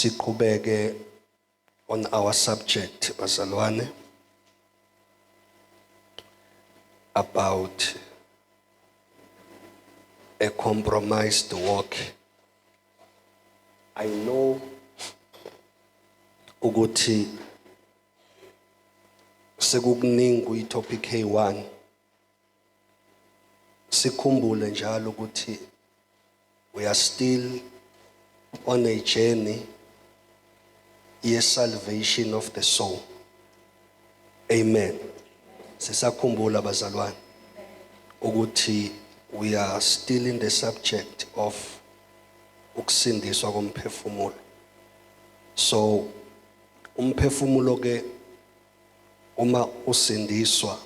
siqhubeke on our subject bazalwane about a compromised walk i know ukuthi sekukuningi kuyitopic K1 sikhumbule njalo ukuthi we are still on a journey ye salvation of the soul amen sisakhumbula bazalwane ukuthi we are still in the subject of ukusindiswa komphefumulo so Umphefumulo ke uma usindiswa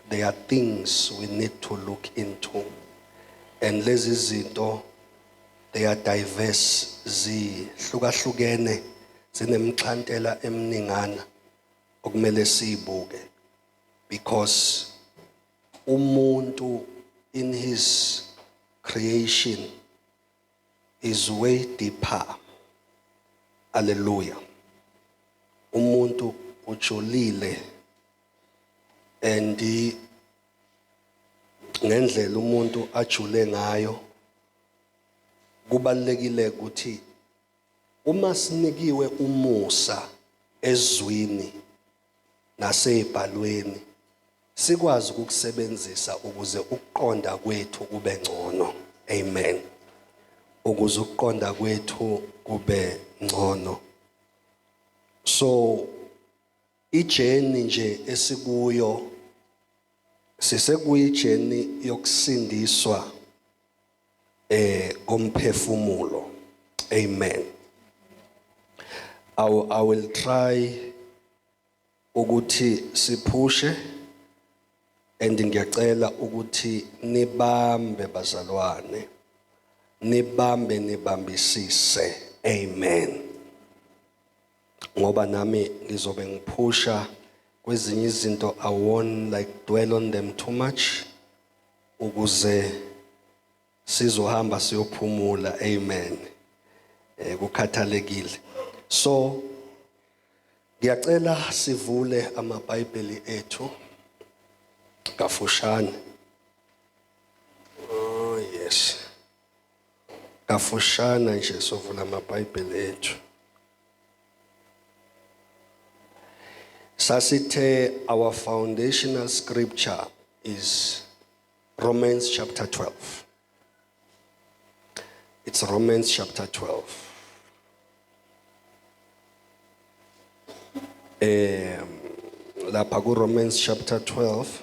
there are things we need to look into and lezi zinto they are diverse zihlukahlukene zinemxhantela emningana okumele siyibuke because umuntu in his creation is way deeper. Hallelujah. Umuntu ujolile and ngendlela umuntu ajule ngayo kubalekile ukuthi uma sinikiwe umusa ezwini nasey'bhalweni sikwazi ukukusebenzisa ukuze ukuqonda kwethu kube ngcono amen ukuze ukuqonda kwethu kube ngcono so ijeni nje esikuyo sisekuyijeni yokusindiswa eh komphefumulo amen I, I will try ukuthi siphushe and ngiyacela ukuthi nibambe bazalwane nibambe nibambisise amen ngoba nami ngizobe ngiphusha kwezinye izinto I won't like dwell on them too much ukuze sizohamba siyophumula amen eh kukhathalekile so ngiyacela sivule amabhayibheli ethu kafushane oh yes Kafushana nje sovula amaBhayibheli ethu. Sasithe our foundational scripture is Romans chapter 12. It's Romans chapter 12. Um, lapha ku Romans chapter 12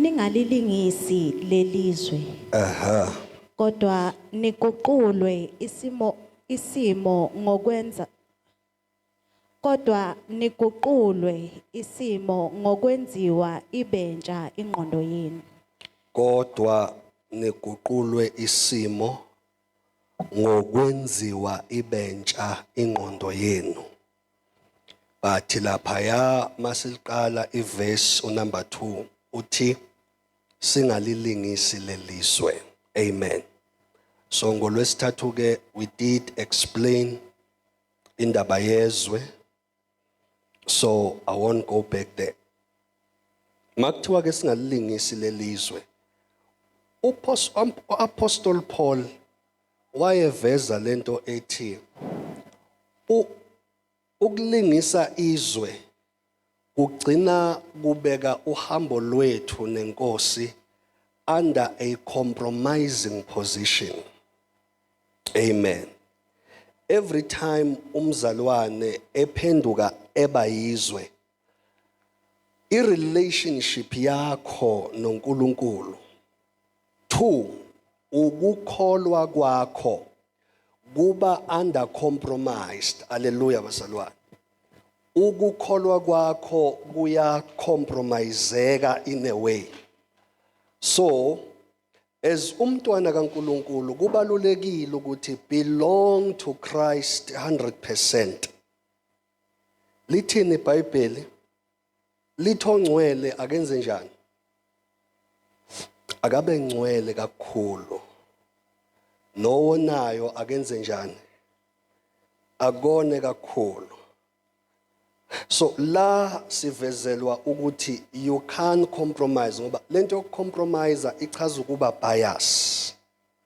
ningalilingisi lelizwe Ehhe. kodwa niguqulwe isimo isimo ngokwenza kodwa niguqulwe isimo ngokwenziwa ibentsha ingqondo yenu Kodwa niguqulwe isimo ngokwenziwa ibentsha ingqondo yenu. but laphaya masiliqala iverse unumber 2 uthi singalilingisi lelizwe amen so ngolwesithathu ke we did explain indaba yezwe so i won't go back there makuthiwa ke singalilingisi lelizwe uapostle paul wayeveza lento ethi u ukulingisa izwe kugcina kubeka uhambo lwethu nenkosi under a compromising position amen every time umzalwane ephenduka eba yizwe I relationship yakho noNkulunkulu. Two, ukukholwa kwakho kuba under compromised. Hallelujah bazalwane. Ukukholwa kwakho kuya compromiseka in a way. So as umntwana kaNkuluNkulu kubalulekile ukuthi belong to Christ 100%. Lithini iBhayibheli? Lithi ongcwele akenze njani? Akabe ngcwele kakhulu. Nowonayo akenze njani? Akone kakhulu. So la sivezelwa ukuthi you can't compromise ngoba lento yokucompromise ichaza ukuba bias.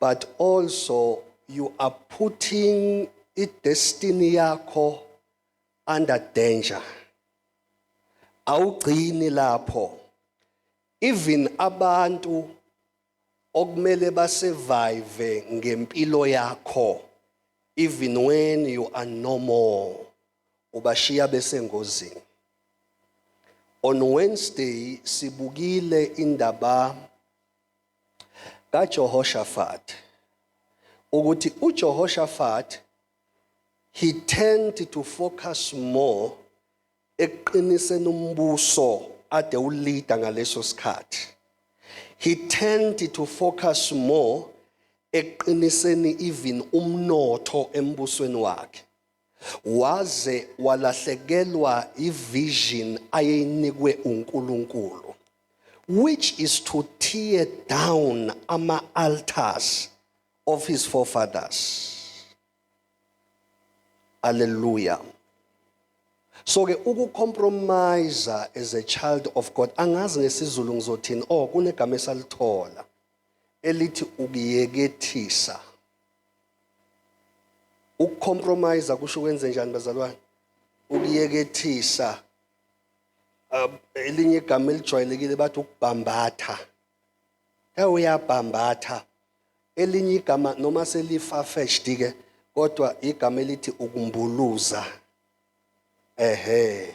but also you are putting i-destiny yakho under danger awugcini lapho even abantu okumele basurvive ngempilo yakho even when you are no more ubashiya besengozini on wednesday sibukile indaba kaJehoshaphat ukuthi uJehoshaphat he tend to focus more ekuqiniseni umbuso ade uleader ngaleso sikhathi he tend to focus more ekuqiniseni even umnotho embusweni wakhe waze walahlekelwa ivision ayeyinikwe uNkulunkulu which is to tear down ama altars of his forefathers Hallelujah. So ke ukucompromise as a child of God angazi ngesizulu ngizothini oh kunegama esalithola elithi ukuyekethisa Ukucompromise kusho ukwenze njani bazalwane? Ukuyekethisa uh, elinye igama elijwayelekile bathi ukubhambatha. Ke uyabhambatha. Elinye igama noma selifafethed ke kodwa igama elithi ukumbuluza. Ehhe.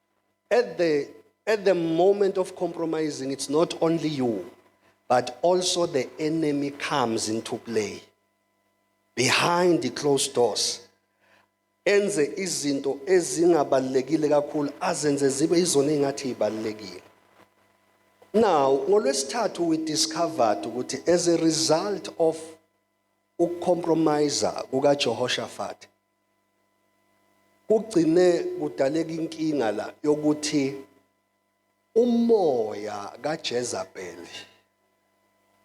at the at the moment of compromising it's not only you but also the enemy comes into play behind the closed doors enze izinto ezingabalekile kakhulu azenze zibe izona engathi ibalekile now ngolwesithathu we discovered ukuthi as a result of ukucompromise kukaJehoshaphat kugcine kudaleka inkinga la yokuthi umoya kaJezebel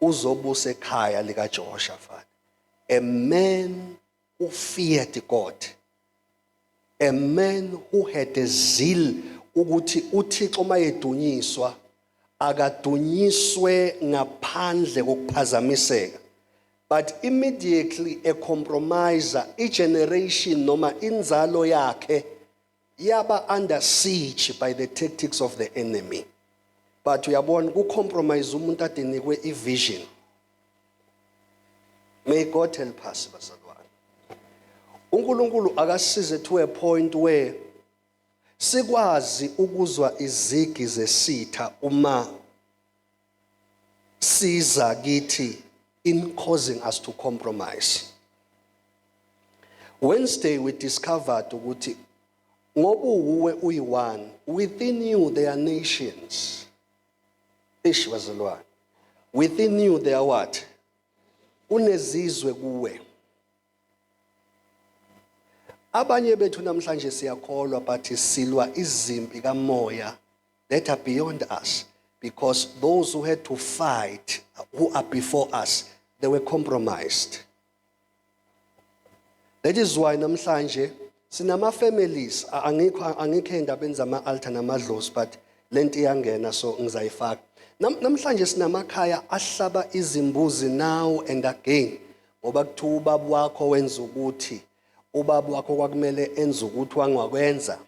uzobusa ekhaya likaJehoshaphat a man who feared God a man who had a zeal ukuthi uThixo mayedunyiswa akadunyiswe ngaphandle kokuphazamiseka but immediately a compromiser i generation noma inzalo yakhe yaba under siege by the tactics of the enemy but uyabona ku compromise umuntu adenikwe i vision may god help us bazalwane uNkulunkulu akasize to a point where sikwazi ukuzwa izigi zesitha uma siza kithi in causing us to compromise Wednesday we discovered ukuthi ngoba uwe uyi-one within you there are nations ish bazalwane within you there are what kunezizwe kuwe Abanye bethu namhlanje siyakholwa but silwa izimpi kamoya that are beyond us because those who had to fight who are before us they were compromised. That is why namhlanje Sinama families a- angikho angikho endabeni zama altar namadlozi but lento iyangena so ngizayifaka. Nam, namhlanje sinamakhaya ahlaba izimbuzi now and again ngoba kuthiwa ubaba wakho wenza ukuthi ubaba wakho kwakumele enze ukuthi wangwakwenza.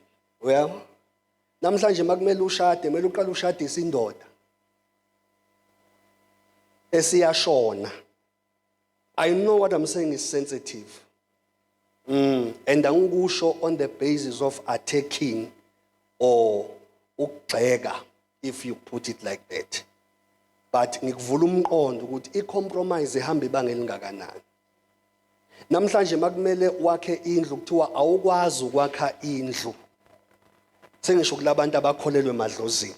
Uyabo? Namhlanje makumele ushade, kumele uqale ushadise indoda esiyashona. I know what I'm saying is sensitive. Mm, and angikusho on the basis of attacking or ukugxeka if you put it like that. But ngikuvula umqondo ukuthi i compromise ihamba ibanga elingakanani. Namhlanje makumele wakhe indlu kuthiwa awukwazi ukwakha indlu sengisho kulabantu abakholelwe emadlozini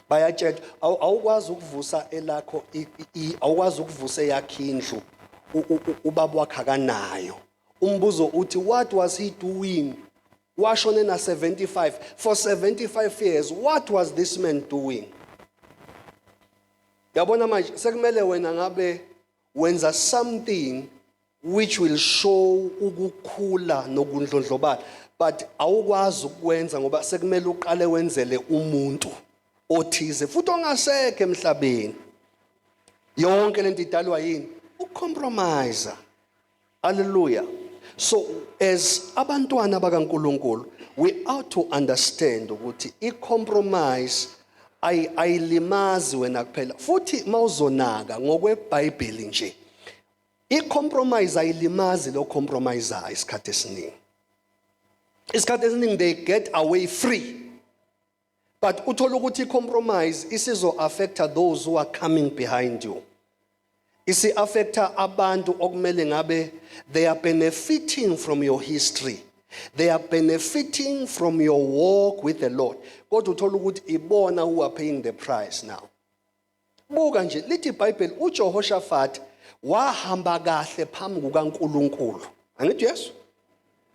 bayatshelwa awu- awukwazi ukuvusa elakho i- i- awukwazi ukuvusa eyakhe indlu u- u- u- ubaba wakhe akanayo umbuzo uthi what was he doing washone na 75 for 75 years what was this man doing yabona manje sekumele wena ngabe Wenza something which will show ukukhula nokundlondlobala but awukwazi ukwenza ngoba sekumele uqale wenzele umuntu othize futhi ongasekho emhlabeni yonke lento idalwa yini ukucompromise Hallelujah. So as abantwana bakaNkuluNkulu we ought to understand ukuthi i compromise ay ayilimazi wena kuphela futhi mawuzonaka ngokweBhayibheli nje i compromise ayilimazi lo compromise isikhathi esiningi isikhathi esiningi they get away free but uthola ukuthi i-compromise isizo-affecta those who are coming behind you isi-affecta abantu okumele ngabe they are benefiting from your history they are benefiting from your walk with the lord kodwa uthola ukuthi ibona who are paying the price now Buka nje, lithi iBhayibheli uJehoshafati wahamba kahle phambi kukaNkulunkulu. Angithi Yesu?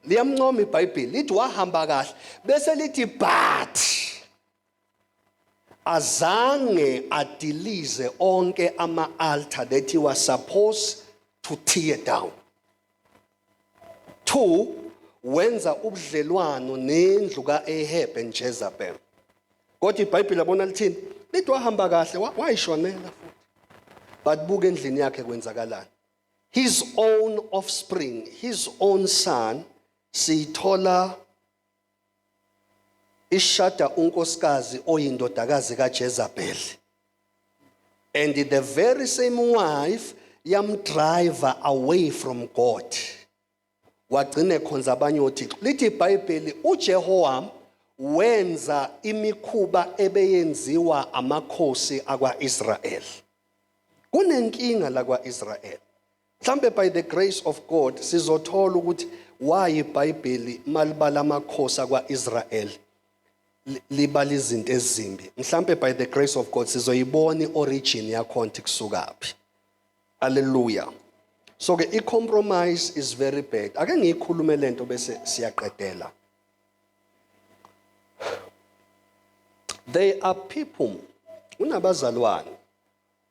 Liyamncoma iBhayibheli, lithi wahamba kahle. Bese lithi but azange adilize onke ama-altar that he was supposed to tear down. 2 wenza ubudlelwano nendlu ka-Ahab and Jezebel kodwa ibhayibhile abona lithini lithi wahamba kahle wayishonela futhi but buka endlini yakhe kwenzakalani his own offspring his own son siyithola ishada unkosikazi oyindodakazi kaJezebel and the very same wife yamdriver away from God wagcine khonza abanye othixo lithi ibhayibheli uJehowam wenza imikhuba ebeyenziwa amakhosi akwaIsrael kunenkinga lakwaIsrael Mhlambe by the grace of God sizothola ukuthi why iBhayibheli malibala amakhosi akwaIsrael libala izinto ezimbi. Mhlambe by the grace of God sizoyibona iorigin yakhonti kusukaphi. Hallelujah. So ke icompromise is very bad. Ake ngiyikhulume lento bese siyaqedela. They are people unabazalwane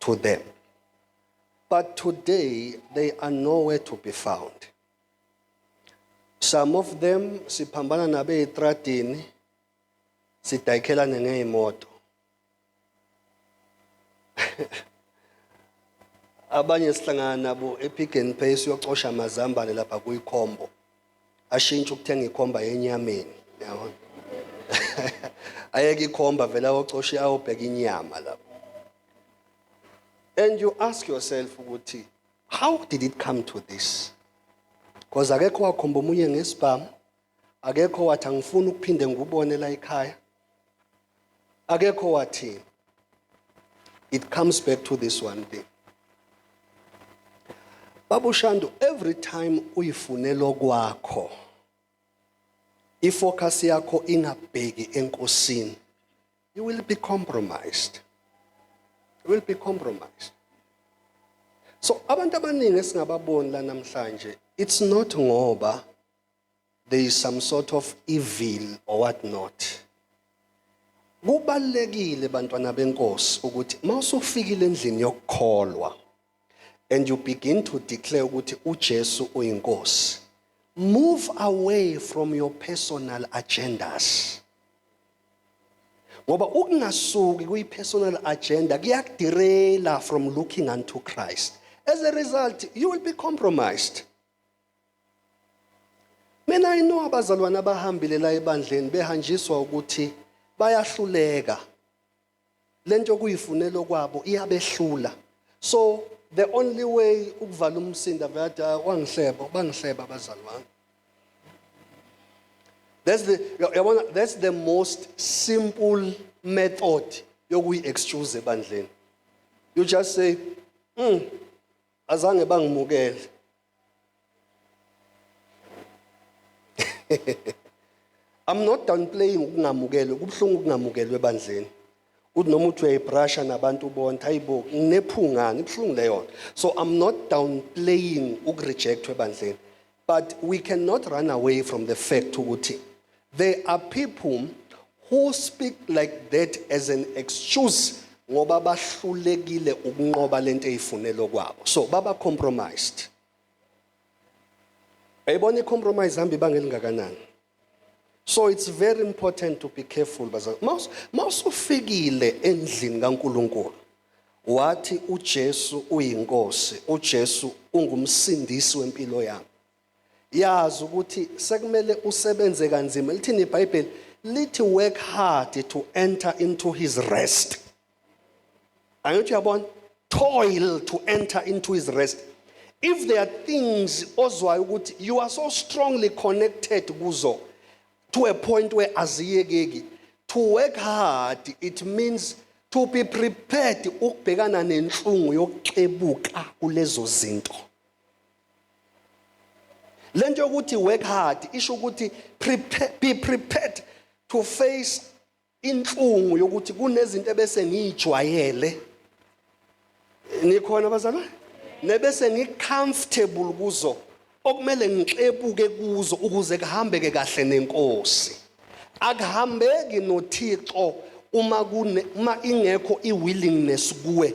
to them. But today, they are nowhere to be found. Some of them siphambana nabe etradini sidayikhelane ngeyimoto. Abanye sihlangana nabo ePick and Pay siyocosha amazambane lapha kuyikhombo. ashintshe ukuthenga ikhomba yenyameni yabona ayeke ikhomba vele awocoshe ayobheka inyama lapho and you ask yourself ukuthi how did it come to this because akekho wakhomba omunye ngesibhamu akekho wathi angifuni ukuphinde ngikubone la ekhaya akekho wathini it comes back to this one thing babu shandu every time uyifunela okwakho ifocus yakho ingabheki enkosini you will be compromised you will be compromised so abantu abaningi esingababoni la namhlanje it's not ngoba there is some sort of evil or what not kubalekile bantwana benkosi ukuthi mawusufikile endlini yokukholwa and you begin to declare ukuthi uJesu uyinkosi move away from your personal agendas ngoba ukungasuki kuyi-personal agenda kuyakudirela from looking unto christ as a result you will be compromised Mina I know abazalwane abahambile la ebandleni behanjiswa ukuthi bayahluleka. Lento okuyifunelo kwabo iyabehlula. So the only way ukuvala umsinda veyada ah, wangihleba bangihleba abazali bami. That's the yabona that's the most simple method yokuyi excuse ebandleni. You just say, "Mm, azange bangimukele." I'm not downplaying ukungamukelwe kubuhlungu ukungamukelwe ebandleni uthi noma uthi uyayibrasha nabantu bonke hayibo nginephungani ibuhlungu leyo so I'm not downplaying ukurejectwa ebandleni but we cannot run away from the fact ukuthi There are people who speak like that as an excuse ngoba bahlulekile ukunqoba lento eyifunelo kwabo. So baba compromised. Ayibona i-compromise hamba ibanga elingakanani. So it's very important to be careful bazali. Mawusufikile endlini kaNkuluNkulu wathi uJesu uyinkosi, uJesu ungumsindisi wempilo yami. yazi ukuthi sekumele usebenze kanzima lithini ibhayibheli lithi work hard to enter into his rest angithi uyabona toil to enter into his rest if there are things ozwayo ukuthi you are so strongly connected kuzo to a point where aziyekeki to work hard it means to be prepared ukubhekana nenhlungu yokuxebuka kulezo zinto le nto yokuthi work hard isho ukuthi prepare, be prepared to face inhlungu yokuthi kunezinto ebese ngiyijwayele nikhona bazalwane nebese ngicomfortable kuzo okumele ngixebuke kuzo ukuze kuhambeke kahle nenkosi akuhambeki noThixo uma kune uma ingekho iwillingness kuwe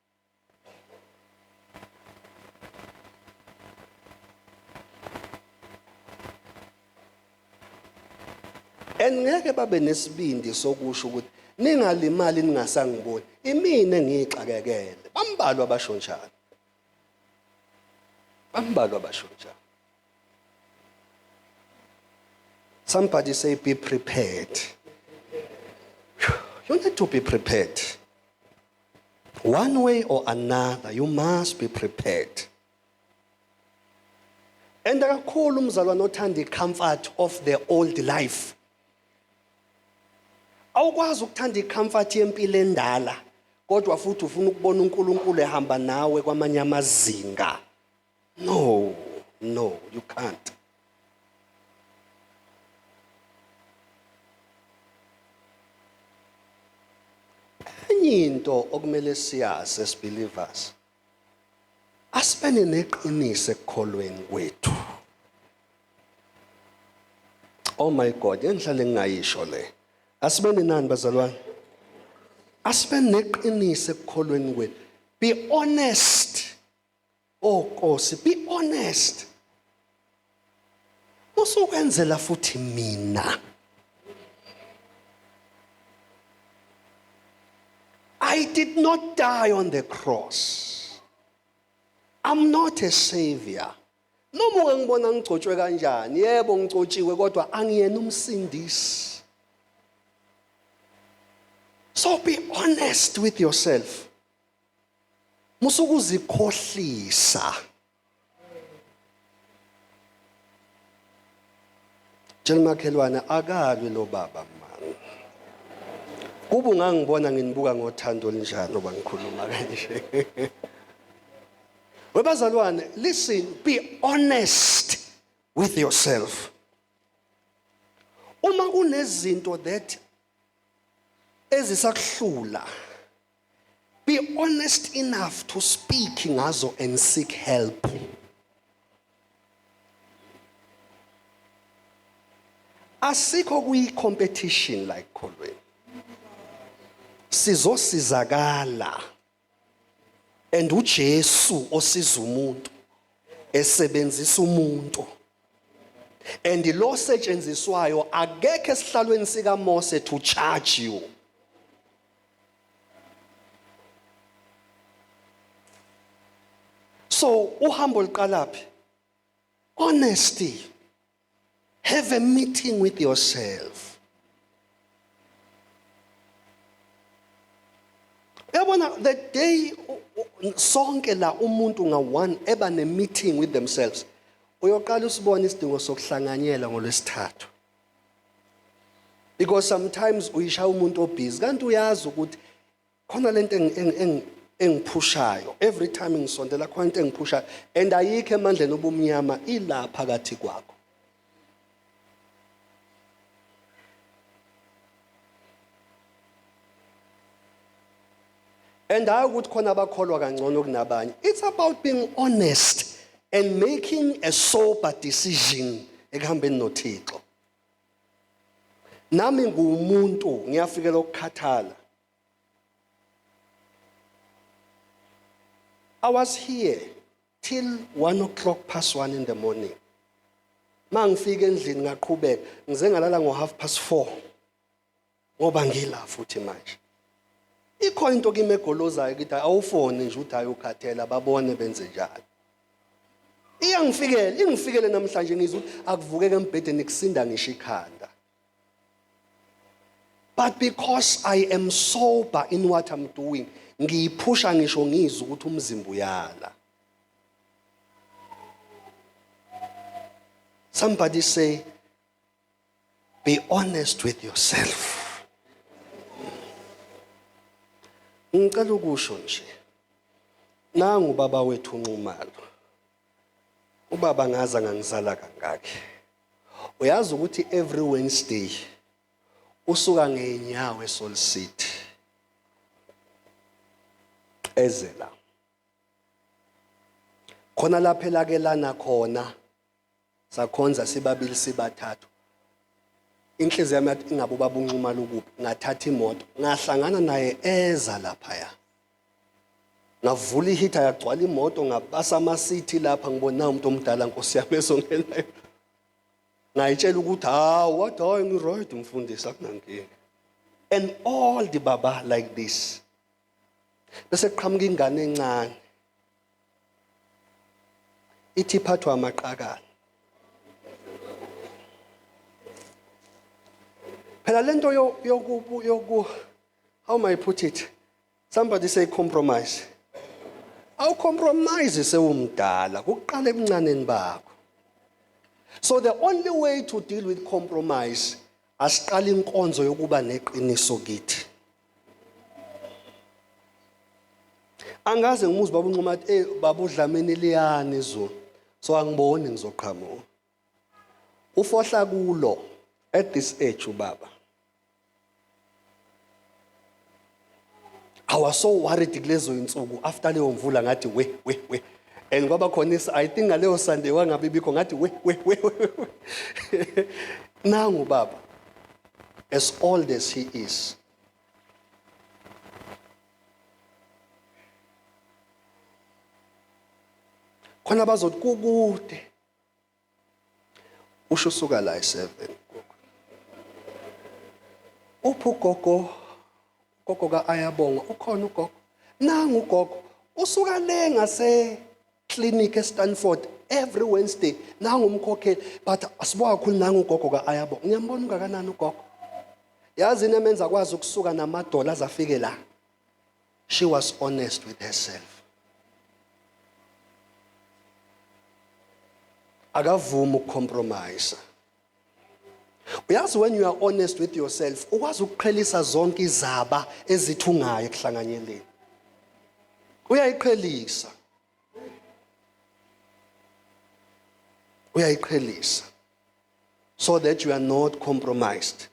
and ngeke babe nesibindi sokusho ukuthi ningalimali ningasangiboni imina engiyixakekele bambalwa abasho njalo bambalwa abasho njalo somebody say be prepared you need to be prepared One way or another, you must be prepared. And kakhulu umzalwane othanda i-comfort of the old life. Awukwazi ukuthanda i-comfort yempilo endala kodwa futhi ufuna ukubona uNkulunkulu ehamba nawe kwamanye amazinga. No, no, you can't. Enye into okumele siyazi as believers. Asibene neqiniso ekukholweni kwethu. Oh my God, yenhlale ngingayisho le. Asibene nani bazalwane? Asibene neqiniso ekukholweni kwethu. Be honest. Oh Nkosi, be honest. Usukwenzela futhi mina. I did not die on the cross. I'm not a savior. Noma ungangibona ngigcotshwe kanjani, yebo ngigcotshiwe kodwa angiyena umsindisi. So be honest with yourself. musukuzikhohlisa Tshela umakhelwane akalwe lo baba mani. Kubu ngangibona nginibuka ngothando olinjani oba ngikhuluma kanje. Webazalwane, listen, be honest with yourself. Uma kunezinto that ezisakuhlula Be honest enough to speak ngazo and seek help. Asikho kuyi competition la ekholweni. Sizosizakala. And uJesu osiza umuntu esebenzisa umuntu. And lo setshenziswayo akekho esihlalweni sika Mose to charge you. so uhambo liqalaphi honesty have a meeting with yourself yabona the day sonke la umuntu nga-one eba ne-meeting with themselves uyoqala usibone isidingo sokuhlanganyela ngolwesithathu because sometimes uyishaya umuntu obhizi kanti uyazi ukuthi khona lento engiphushayo every time ngisondela khona into engiphushayo and ayikho emandleni obumnyama ila phakathi kwakho and hayi ukuthi khona abakholwa kangcono kunabanye it's about being honest and making a sober decision ekuhambeni noThixo nami ngumuntu ngiyafikela ukukhathala I was here till 1 o'clock past 1 in the morning mangifika endlini ngaqhubeka ngize ngalala ngo half past 4 ngoba ngila futhi manje ikhona into kimi egolozayo ukuthi awufone nje uthi ayokhathela babone benze njalo iyangifikela ingifikele namhlanje ngizwe ukuthi akuvukeke embhedeni kusinda ngisho ikhanda but because i am sober in what i'm doing ngiyiphusha ngisho ngizwe ukuthi umzimba uyala somebody say Be honest with yourself. Ngicela ukusho nje. Nangu baba wethu unxumalo. Ubaba ngaza ngangizala kangaki. Uyazi ukuthi every Wednesday usuka ngeenyawo eSol City. Ezela. Khona lapha elakelana khona. Sakhonza sibabili sibathathu. Inhliziyo yami yathi ingabe ubaba uNxumalo ukuphi? Ngathatha imoto, ngahlangana naye eza laphaya. Ngavula ihitha yagcwala imoto, ngabasa amasithi lapha ngibona nawu umuntu omdala Nkosi yami ezongenayo. Ngayitshela ukuthi hawu wathi hayi ngi-right mfundisi akunankinga. And all the baba like this. Bese kuqhamuka ingane encane. ithi iphathwa amaqakala phela lento yoku yoku how may I put it somebody say compromise awu compromise sewumdala kuqala ebuncaneni bakho so the only way to deal with compromise Asiqale inkonzo yokuba neqiniso kithi. Angaze ngimuzi baba unquma athi eh baba udlameni liyani izulu. So angiboni ngizoqhamuka. Ufohla kulo at this age ubaba. I was so worried kulezo insuku after leyo mvula ngathi we we we and kwaba khona is I think ngaleyo Sunday wangabe bikho ngathi we we we nangu baba as old as he is khona bazothi kukude Usho suka la eSeven gogo. Uphi ugogo? Ugogo ka-Ayabonga ukhona ugogo? Nangu ugogo usuka le ngase clinic eStanford every Wednesday nangu umkhokheli but asibuka kakhulu nangu ugogo ka-Ayabonga. Ngiyambona ungakanani ugogo? Yazi into emenza akwazi ukusuka namadola azafike la. She was honest with herself. akavumi ukucompromise uyazi when you are honest with yourself ukwazi ukuqhelisa zonke izaba ezithungayo ekuhlanganyeleni uyayiqhelisa uyayiqhelisa so that you are not compromised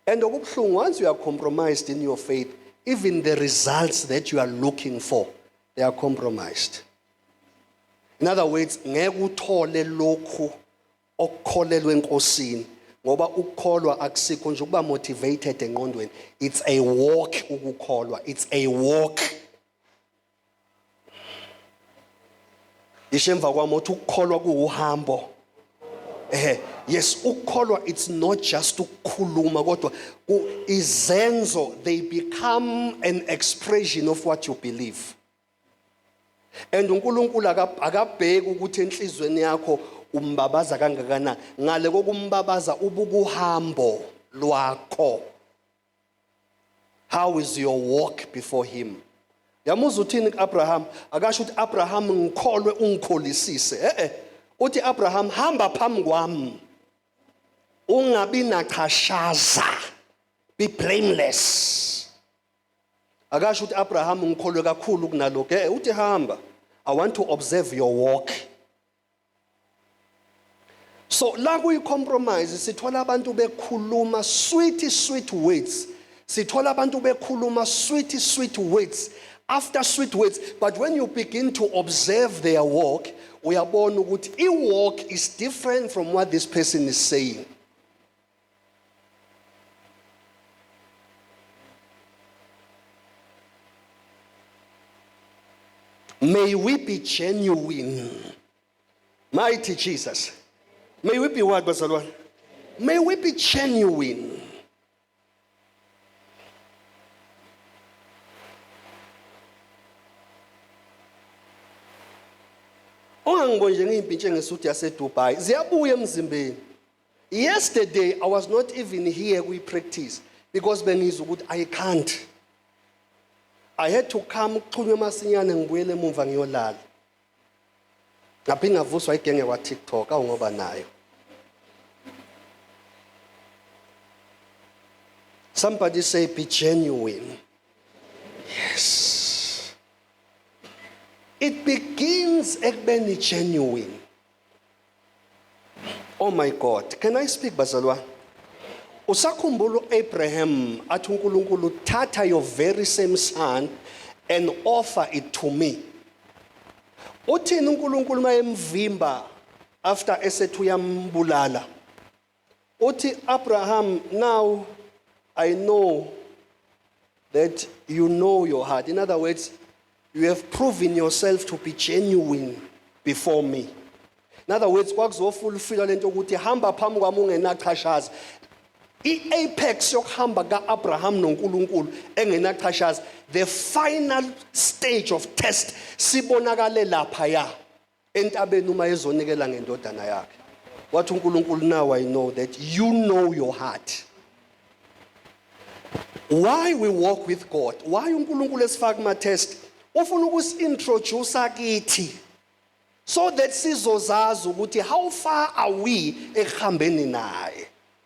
And okubuhlungu once you are compromised in your faith, even the results that you are looking for, they are compromised. In other words, ngeke uthole lokhu okukholelwe enkosini ngoba ukukholwa akusikho nje ukuba motivated enqondweni it's a walk ukukholwa it's a walk yisho emva kwami uthi ukukholwa kuwuhambo ehe yes ukukholwa it's not just ukukhuluma kodwa izenzo they become an expression of what you believe and uNkulunkulu akabheki ukuthi enhlizweni yakho umbabaza kangakanani ngale kokumbabaza ubukuhambo lwakho how is your walk before him yamuza uthini kuAbraham akasho ukuthi Abraham ngikholwe ungikholisise eh eh uthi Abraham hamba phambi kwami ungabi nachashaza be blameless akasho ukuthi Abraham ngikholwe kakhulu kunalokho eh uthi hamba i want to observe your walk so la kuyi-compromise sithola abantu bekhuluma sweet sweet words sithola abantu bekhuluma sweet sweet words after sweet words but when you begin to observe their walk uyabona ukuthi i-walk is different from what this person is saying May we be genuine. Mighty Jesus. May we be what, Basalwa? May we be genuine. Ongangibonje ngiyimpi njengesuthi yaseDubai ziyabuya emzimbeni. Yesterday I was not even here kwi practice because bengizwa ukuthi I can't. I had to come kuxhunywe masinyane ngibuyele emumva ngiyolala. Ngaphinde ngavuswa igenge kwa TikTok awungoba nayo. Somebody say be genuine. Yes. It begins ekubeni genuine. Oh my God, can I speak bazalwane? Usakhumbula uAbraham athi uNkulunkulu thatha your very same son and offer it to me. Uthini uNkulunkulu mayemvimba after esethi uyambulala? Uthi Abraham now I know that you know your heart. In other words, you have proven yourself to be genuine before me. In other words, kwakuzofulfila lento ukuthi hamba phambi kwami ungenachashaza. I-apex yokuhamba ka-Abraham noNkulunkulu engenachashaza, the final stage of test sibonakale lapha ya. entabeni uma ezonikela ngendodana yakhe wathi uNkulunkulu now I know that you know your heart why we walk with God why uNkulunkulu esifaka kuma test ufuna ukusintroduce kithi so that sizozazi ukuthi how far are we ekuhambeni naye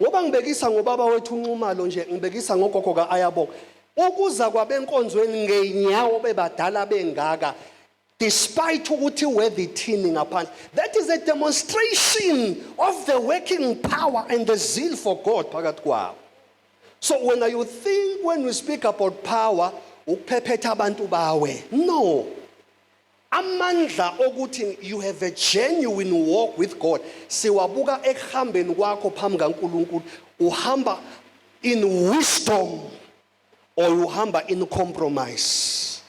Ngoba ngibekisa ngobaba wethu uNxumalo nje ngibekisa ngogogo kaAyabonga. Ukuza kwabenkonzweni ngenyawo bebadala bengaka despite ukuthi weather ithini ngaphandle. That is a demonstration of the working power and the zeal for God phakathi kwabo. So when you think when we speak about power ukuphephetha abantu bawe. No. Amandla okuthi you have a genuine walk with God siwabuka ekuhambeni kwakho phambi kaNkulunkulu uhamba in wisdom or uhamba in compromise.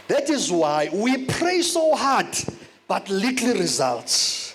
That is why we pray so hard but little results.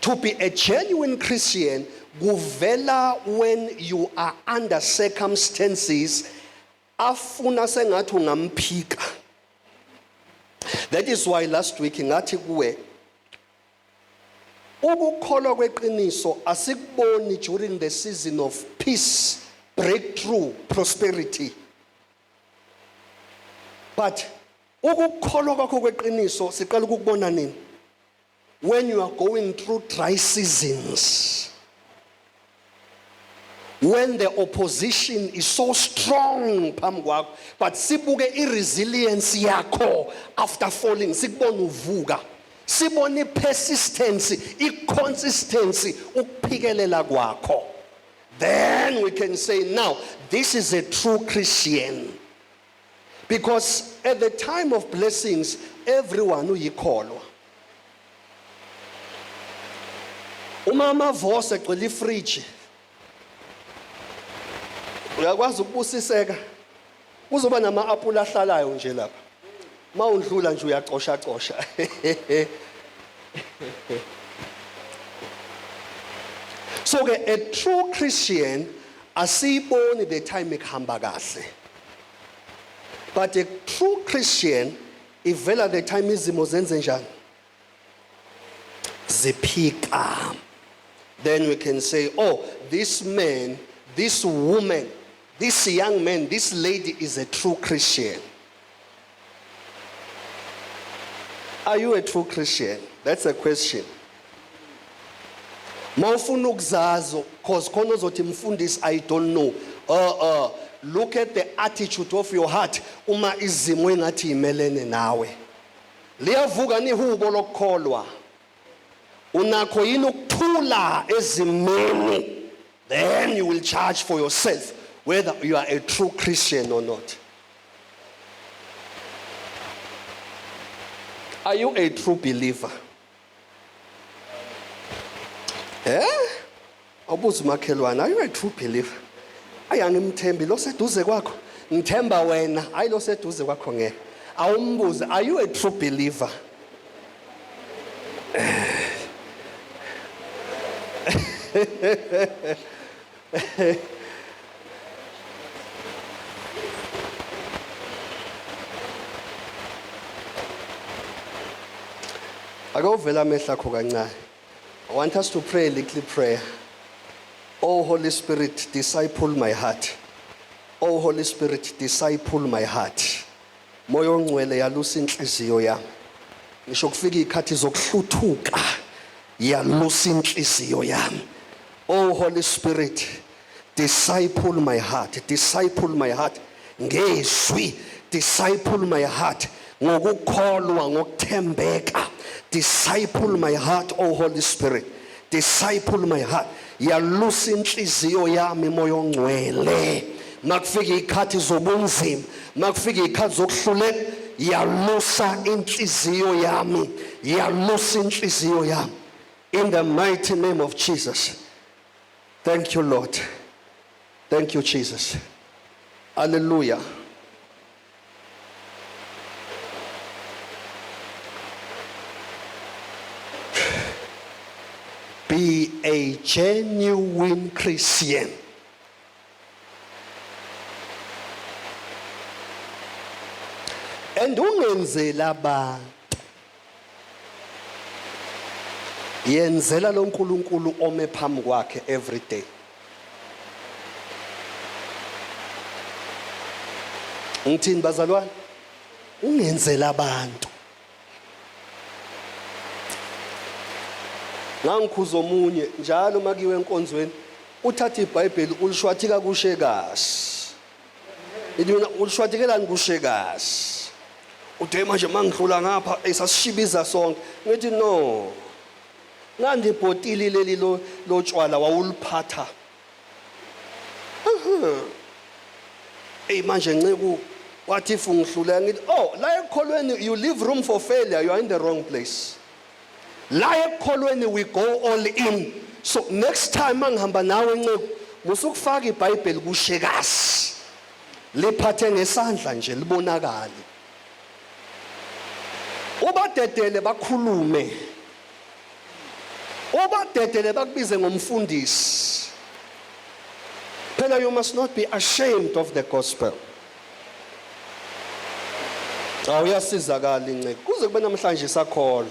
To be a genuine Christian kuvela when you are under circumstances afuna sengathi ungamphika that is why last week ngathi kuwe ukukholwa kweqiniso asikuboni during the season of peace breakthrough prosperity but Ukukholwa kwakho kweqiniso siqala ukukubona nini? When you are going through dry seasons. When the opposition is so strong phambi kwakho but sibuke i-resilience yakho after falling sikubona uvuka sibona i-persistency i-consistency ukuphikelela kwakho then we can say now this is a true christian because at the time of blessings everyone uyikholwa uma amavose egcwele ifridge uyakwazi ukubusiseka kuzoba nama-apula ahlalayo nje lapha Uma undlula nje uyacosha cosha. So ke a true Christian asiyiboni the time ekuhamba kahle. But a true Christian ivela the time izimo zenze njani? ziphica then we can say oh this man this woman this young man this lady is a true christian are you a true christian that's a question mawufuna ukuzazo cause khona ozothi mfundisi i don't know uh, uh, look at the attitude of your heart uma izimo engathi yimelene nawe Liyavuka ni ihubo lokukholwa. Unakho yini ukuthula ezimeni? Then you will charge for yourself whether you are a true Christian or not. Are you a true believer? Eh? Awubuze umakhelwane, are you a true believer? Ayi angimthembi lo seduze kwakho. Ngithemba wena, hayi lo seduze kwakho ngeke. Awumbuze, are you a true believer? Ake uvele amehlo akho kancane. I want us to pray a little prayer. Oh Holy Spirit, disciple my heart. Oh Holy Spirit, disciple my heart. Moya ongcwele yalusa inhliziyo yami. Ngisho kufika izikhathi zokuhluthuka yalusa inhliziyo yami. Oh Holy Spirit, disciple my heart, disciple my heart ngezwi, disciple my heart ngokukholwa, ngokuthembeka. Disciple my heart, oh Holy Spirit. disciple my heart yalusa inhliziyo yami moya ongcwele makufika ikhathi zobunzima makufika ikhathi zokuhluleka yalusa inhliziyo yami yalusa inhliziyo yami in the mighty name of Jesus thank you lord thank you Jesus hallelujah Be a genuine Christian. And ungenzela abantu yenzela lo nkulunkulu ome phambi kwakhe every day ngithini bazalwane ungenzela abantu ngangikhuza omunye njalo makiwe enkonzweni uthatha ibhayibheli ulishwathika kushe kahle Ithi mina ushwadekelani kushekazi. Ude manje mangidlula ngapha esasishibiza sonke. Ngithi no. Nandi ibhotili leli lo lotshwala wawuliphatha. Ey manje nceku wathi if ungihlulela ngithi oh la ekholweni you leave room for failure you are in the wrong place. La ekukholweni we go all in. So next time mangihamba nawe nceku musukufaka iBhayibheli kushekazi. Liphathe ngesandla nje libonakale. Ubadedele bakhulume. Ubadedele bakubize ngomfundisi. Phela you must not be ashamed of the gospel. Cha uyasizakala inceke. Kuze kube namhlanje isakholwa.